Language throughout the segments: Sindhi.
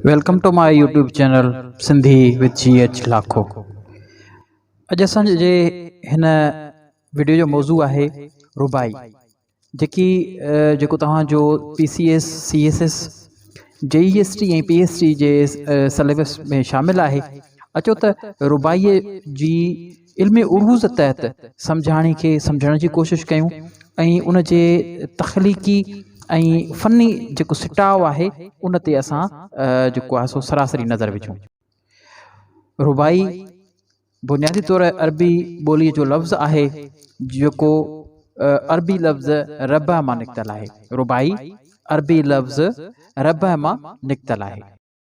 Welcome to my YouTube channel Sindhi with J H Lakho اڄ اسان جي هن ويڊيو جو موضوع آهي ربائي جيڪي جيڪو توهان جو P C S C S S J E S T ۽ P S T جي سليبس ۾ شامل آهي اچو ته ربائي جي علم عروض تحت سمجهاڻي کي سمجهڻ جي ڪوشش ڪيون ۽ ان جي تخليقي ۽ فني جيڪو سٽاء آهي ان تي اسان جيڪو آهي سو سراسري نظر وجهون. رباعي بنيادي طور عربي ٻوليء جو لفظ آهي جيڪو عربي لفظ ربع مان نڪتل آهي. رباعي عربي لفظ ربع مان نڪتل آهي.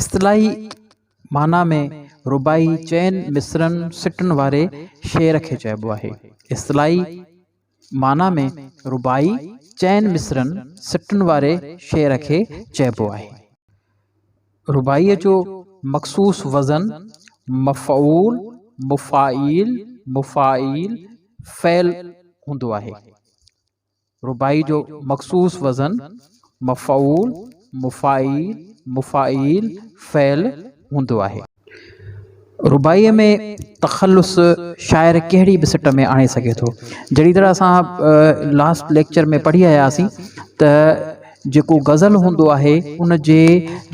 اصطلاحي معنيٰ ۾ رباعي چئن مصرعن سٽن واري شعر کي چئبو آهي. اصطلاحي معنيٰ ۾ رباعي چئن مصرعن سٽن واري شعر کي چئبو آهي. رباعيء جو مخصوص وزن مفعول، مفاعيل، مفاعيل، فعل هوندو آهي. رباعي جو مخصوص وزن مفعول، مفاعيل، مفاعيل، فعل هوندو آهي. رباعيء ۾ تخلص شاعر ڪهڙي به سٽ ۾ آڻي سگهي ٿو. جهڙي طرح اسان لاسٽ ليڪچر ۾ پڙهي آياسين ته. جيڪو غزل هوندو آهي ان جي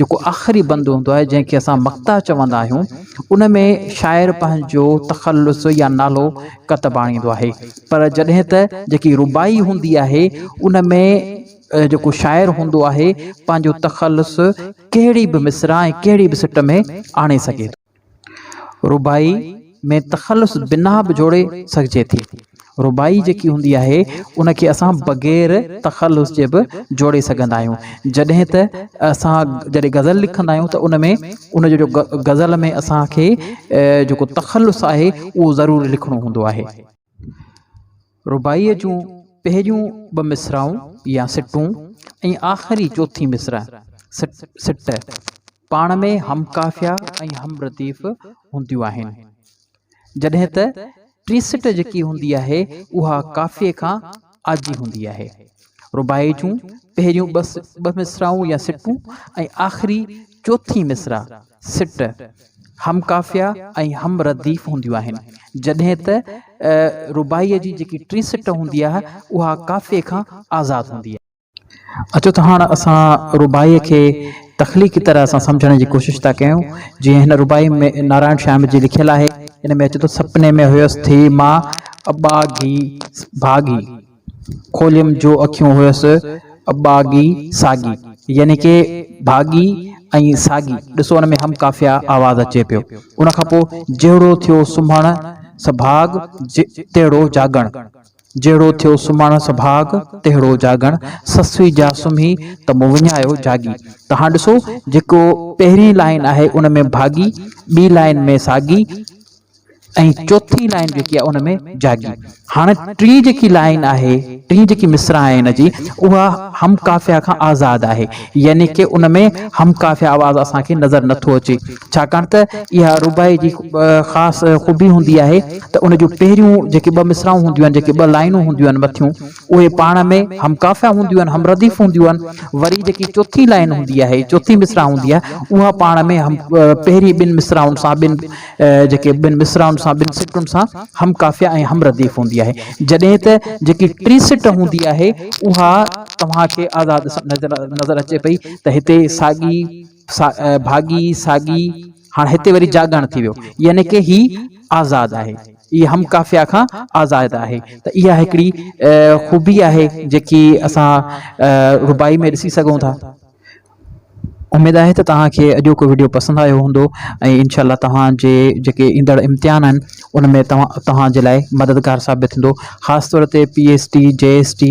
جيڪو آخري بند هوندو آهي جنهن کي اسان مقطعه چوندا آهيون ان ۾ شاعر پنهنجو تخلص يا نالو ڪتب آڻيندو آهي پر جڏهن ته جيڪي رباعي هوندي آهي ان ۾ جيڪو شاعر هوندو آهي پنهنجو تخلص ڪهڙي به مصرع ۽ ڪهڙي به سٽ ۾ آڻي سگهي ٿو. رباعي ۾ تخلص بنا به جوڙي سگهجي ٿي. رباعي جيڪي هوندي آهي، ان کي اسان بغير تخلص جي به جوڙي سگهندا آهيون. جڏهن ته اسان جڏهن غزل لکندا آهيون ته ان ۾ ان جو غزل ۾ اسان کي جيڪو تخلص آهي، اهو ضرور لکڻو هوندو آهي. رباعيء جون پهريون ٻه مصراعون يا سٽون ۽ آخري چوٿين مصرع، سٽ، پاڻ ۾ هم قافيه ۽ هم رديف هونديون آهن، جڏهن ته ٽين سٽ جيڪي هوندي آهي، اها قافيي کان آجي هوندي آهي. رباعي جون پهريون ٻه مصراعون يا سٽون ۽ آخري چوٿين مصرع، سٽ، هم قافيه ۽ هم رديف هونديون آهن، جڏهن ته رباعيء جي جيڪي ٽين سٽ هوندي آهي، اها قافيي کان آزاد هوندي آهي. اچو ته هاڻ اسان رباعيء کي تخليقي طرح سان سمجهڻ جي ڪوشش ٿا ڪيون، جيئن هن رباعي ۾ نارائڻ شيام جي لکيل آهي، ان ۾ اچي ٿو، سپني ۾ هيس ٿي مان اٻاگهي سڀاڳي، کوليم جو اکيون هيس اٻاگهي ساڳي، يعني ڪي ڀاڳي ۽ ساڳي، ڏسو ان ۾ هم قافيه آواز اچي پيو، ان کان پوء جهڙو ٿيو سمهڻ سڀاڳ تهڙو جاڳڻ. جهڙو ٿيو سمهڻس ڀاڳ، تهڙو جاڳڻ، سسوي جا سمهي ته مون وڃايو جاڳي. ته هاڻ ڏسو جيڪو پهرين لائين آهي ان ۾ ڀاڳي، ٻي لائين ۾ ساڳي ۽ چوٿين لائين جيڪي آهي ان ۾ جاڳي. هاڻ ٽين جيڪي لائين آهي، ٽين جيڪي مصرع آهي هن جي، اها هم قافيه کان آزاد آهي، يعني ڪه ان ۾ هم قافيه آواز اسان کي نظر نٿو اچي. ڇاڪاڻ ته اها رباعي جي خاص خوبي هوندي آهي ته ان جون پهريون جيڪي ٻه مصرعون هونديون آهن، جيڪي ٻه لائينون هونديون آهن مٿيون، اهي پاڻ ۾ هم قافيه هونديون آهن، هم رديف هونديون آهن، وري جيڪي چوٿين لائين هوندي آهي، چوٿين مصرع هوندي آهي، اها پاڻ ۾ هم پهرين ٻن مصرعن سان ٻن جيڪي ٻن مصرعن سان ٻن سٽن سان هم قافيه ۽ هم رديف هوندي آهي، جڏهن ته جيڪي ٽين سٽ هوندي آهي اها توهان کي آزاد نظر اچي پئي ته هتي ساڳي. ڀاڳي ساڳي هاڻ هتي وري جاڳاڻ ٿي ويو يعني ڪه هي آزاد آهي هي هم قافيا کان آزاد آهي ته اها هڪڙي خوبي آهي جيڪي اسان رباعي ۾ ڏسي سگهون ٿا اميد آهي ته توهان کي اڄوڪو وڊيو پسند آيو هوندو ۽ انشاء الله توهان جي جيڪي ايندڙ امتحان آهن ان ۾ توهان توهان جي لاء مددگار ثابت ٿيندو خاص طور تي P S T J S T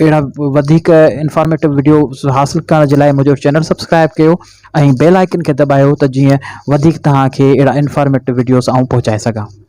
اهڙا وڌيڪ انفارميٽو وڊيوز حاصل ڪرڻ جي لاء منهنجو چينل سبسڪرائب ڪيو ۽ بيل آئڪن کي دٻايو ته جيئن وڌيڪ توهان کي اهڙا انفارميٽو وڊيوز آئون پهچائي سگهان